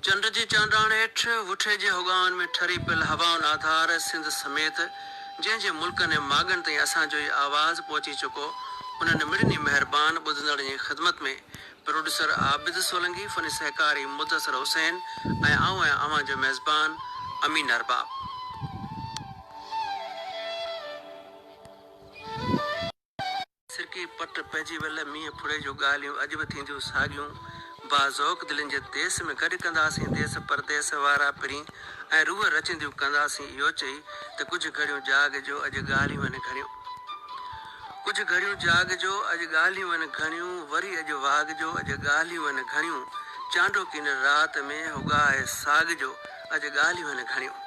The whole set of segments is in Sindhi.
چنڊ جي چانڊاڻ هيٺ، وٺي جي هوڳائن ۾ ٺري پيل هوائن آڌار سنڌ سميت جنهن جي ملڪن ۽ ماڳن تائين اسان جو هي آواز پهچي چڪو، انهن مڙني مهربان ٻڌندڙن جي خدمت ۾ پروڊيوسر عابد سولنگي، فني سهڪاري مدثر حسين ۽ آئون آهيان اوهان جو ميزبان امين ارباب. سرڪي پٽ پئجي ويل مينهن ڦڙي جون ڳالهيون اڄ به ٿينديون ساڳيون با ذوق دلين جي ديس ۾ گڏ ڪنداسين ديس پرديس وارا پرين ۽ روح رچنديون ڪنداسين اهو چئي ته ڪجهه گهڙيون جاڳ جو اڄ ڳالهيون آهن گهڻيون ڪجهه گهڙيون جاڳ جو اڄ ڳالهيون آهن گهڻيون وري اڄ واڳ جو اڄ ڳالهيون آهن گهڻيون چانڊوڪي نرڙ رات ۾ هو ڳاهي ساڳ جو اڄ ڳالهيون آهن گهڻيون.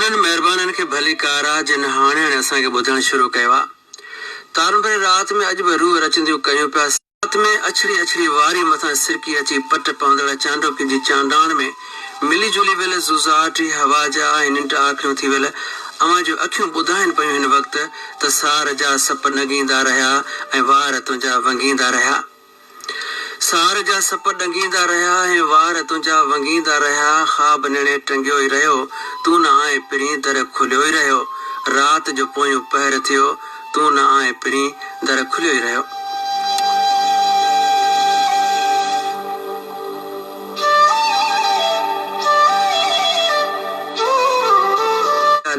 انهن مهربانن کي ڀلي ڪار آ جن هاڻي هاڻي اسان کي ٻڌڻ شروع ڪيو آ. تارون ڀري رات ۾ اڄ به روح رچنديون ڪيون پيا. رات ۾ اڇڙي اڇڙي واري مٿان سرڪي اچي پٽ پوندڙ چانڊوڪي جي چانڊاڻ ۾ ملي جلي ويل زوزاٽ هي هوا جا ۽ ننڊ آکڙيون ٿي ويل اوهان جون اکيون ٻڌائين پيون هن وقت ته سار جا سپ نڳيندا رهيا ۽ وار تنهنجا ونگيندا رهيا. سار جا سپ ڏنگيندا رهيا ۽ وار تنهنجا ونگيندا رهيا خواب نيڻي ٽنگيو ئي رهيو تون نه آء پرين در کليو ئي رهيو رات جو پويون پهر ٿيو تون نه آء پرين در کليو ئي رهيو.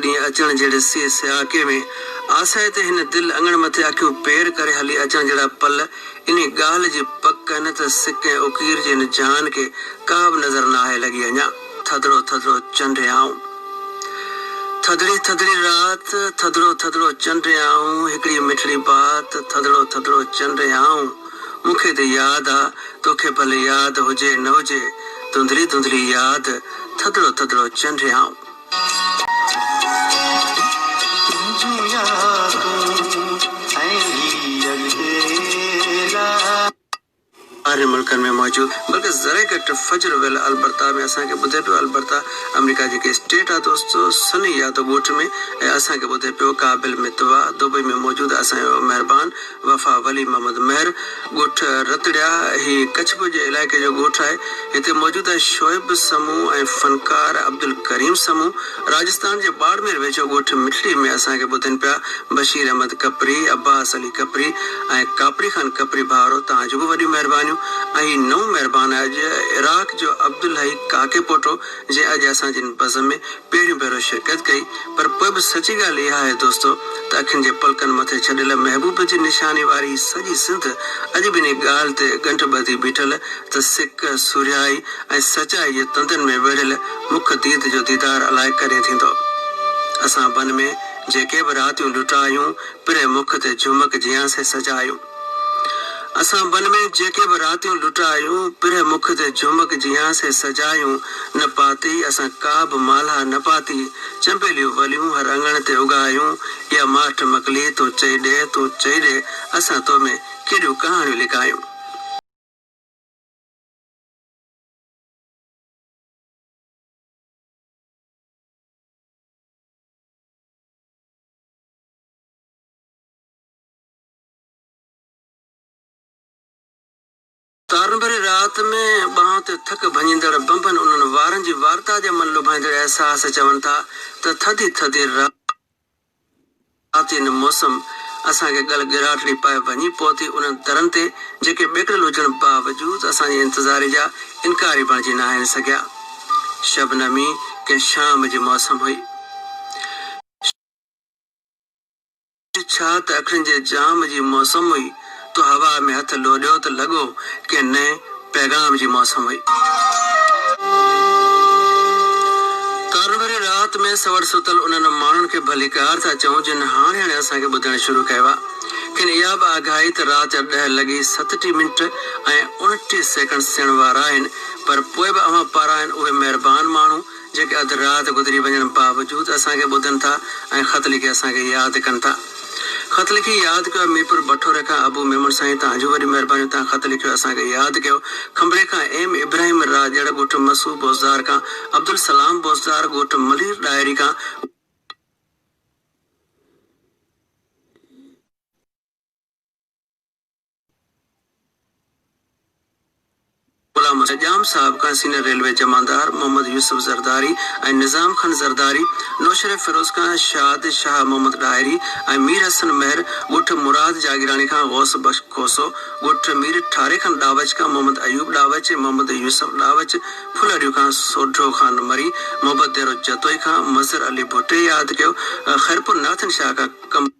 ڏينهن اچڻ جهڙي سي سياڪي ۾، آسائي تي هن دل اڱڻ مٿي اکيون پير ڪري هلي اچڻ جهڙا پل انهي ڳالهه جي پڪ آهن ته سڪ ۽ اڪير جي هن جهان کي ڪا به نظر نه آهي لڳي اڃا ٿڌڙو ٿڌڙو چنڊ آئون ٿڌڙي ٿڌڙي رات ٿڌڙو ٿڌڙو چنڊ آئون هڪڙي مٺڙي بات ٿڌڙو ٿڌڙو چنڊ آئون. مون کي ته ياد آ، توکي ڀلي ياد هجي نه هجي، ڌنڌلي ڌنڌلي ياد، ٿڌڙو ٿڌڙو چنڊيائون. تنهنجون يادون ۽ هي اڪيلا. ٻاهرين ملڪن ۾ موجود بلڪه ذري گهٽ فجر ويل البرتا ۾ اسان کي ٻڌي پيو البرتا آمريڪا جي هڪ اسٽيٽ آ دوستو سني يادو ڳوٺ ۾ ۽ اسان کي ٻڌي پيو ڪابل متوا دبئي ۾ موجود آ اسان جو مهربان وفا ولي محمد مهر، ڳوٺ رتڙيا، هي ڪڇ ڀر جي علائقي جو ڳوٺ آهي. هتي موجوده شعيب سمون ۽ فنڪار عبدالڪريم سمون راجستان جي ٻاڙمير ويجهو ڳوٺ مٺڙي ۾ اسان کي ٻڌن پيا. بشير احمد ڪپري، عباس علي ڪپري ۽ ڪاپري خان ڪپري ڀائرو توهان جون به وڏيون مهربانيون ۽ هي نئون مهربان آهي اڄ عراق جو عبدالحئي ڪاڪي پوٽو. جي اڄ اسان جن بزم ۾ پهريون ڀيرو شرڪت ڪئي پر پوء به سچي ڳالهه اها آهي دوستو ته اکين جي پلڪن مٿي ڇڏيل محبوب جي نشاني واري هي سڄي سنڌ اڄ به انهي ڳالهه تي ڳنڍ ٻڌي بيٺل ته سڪ، سورهيائي ۽ سچائي جي تندن ۾ ويڙهيل مک ديد جو ديدار الائي ڪڏهن ٿيندو. اسان بن ۾ جيڪي به راتيون لٽايون، پري مک تي جهمڪ جيان سي سجايون. اسان بن ۾ جيڪي به راتيون لٽايون، پرهه مک تي جهمڪ جيان سي سجايون، نه پاتي اسان ڪا به مالها نه پاتي، چنبيليون وليون هر اڱڻ تي اگهايون، اها ماٺ مڪلي تون چئي ڏي، تون چئي ڏي، اسان تو ۾ ڪيڏيون ڪهاڻيون لڪايون. تارن ڀري رات ۾ ٻانهن تي ٿڪ ڀڃيندڙ بنبن انهن وارن جي وارتا جا من لڀائيندڙ احساس چون ٿا ته ٿڌي ٿڌي راتين موسم اسان کي ڳل ڳراٽڙي پائي ڀڃي پهتي انهن درن تي جيڪي ٻيڪڙيل هجڻ باوجود اسان جي انتظاري جا انڪاري بڻجي ناهن سگهيا. شبنمي ڪنهن شام جي موسم هئي. اڄ ڇا ته اکين جي جام جي موسم هئي، تو هوا ۾ هٿ لوڏيو ته لڳو ڪنهن نئين پيغام جي موسم هئي. تارن ڀري رات ۾ سوڙ ستل انهن ماڻهن کي ڀليڪار ٿا چئون جن هاڻي هاڻي اسان کي ٻڌڻ شروع ڪيو آ. کين اها به آگاهي ته رات جا ڏهه لڳي ستٽيهه منٽ ۽ اڻٽيهه سيڪنڊ ٿيڻ وارا آهن پر پوء به اوهان پاران اهي مهربان ماڻهو، جيڪي اڌ رات گذري وڃڻ باوجود اسان کي ٻڌن ٿا ۽ خط لکي اسان کي ياد ڪن ٿا. خط لکي ياد ڪيو ميرپور بٺوري کان ابو ميمڻ سائين توهان جون وڏيون مهربانيون توهان خط لکيو اسان کي ياد ڪيو کنڀري کان ايم ابراهيم راڄڙ ڳوٺ مسو بوسدار کان عبدالسلام بوسدار ڳوٺ ملير ڏاهري کان غلام حسين ڄام صاحب کان سينئر ريلوي جمعدار محمد يوسف زرداري ۽ نظام خان زرداري، نوشهري فيروز کان شاد شاهه محمد ڏاهري ۽ مير حسن مهر، ڳوٺ مراد جاگيراڻي کان غوث بخش کوسو، ڳوٺ مير ٺاري کان ڏاوچ کان محمد ايوب ڏاوچ، محمد يوسف ڏاوچ، ڦلهڙيو کان سوڍو خان مري، محبت ديرو جتوئي کان مظهر علي ڀٽي ياد ڪيو، خيرپور نارٿن شاهه کان قمر.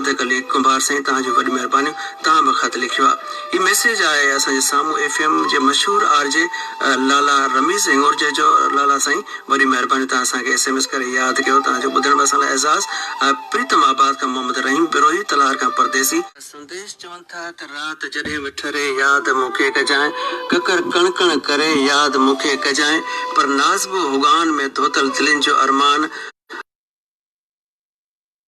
ته ڪليڪ ڪنڀار سائين توهان جون وڏ مهربانيون توهان به خط لکيو آ هي ميسيج آهي اسان جي سامهون ايف ايم جي مشهور آر جي لالا رميز هنڱورجي جو لالا سائين وڏي مهرباني توهان اسان کي ايس ايم ايس ڪري ياد ڪيو توهان جو ٻڌڻ به اسان لاء اعزاز آ پريتم آباد کان محمد رحيم بروهي تلهار کان پرديسي سنديش چون ٿا ته رات جڏهن به ٺري ياد مون کي ڪجانء ڪڪر ڪڻ ڪڻ ڪري ياد مون کي ڪجانء پر نازبو هوگان ۾ ڌوتل دلين جو ارمان آ.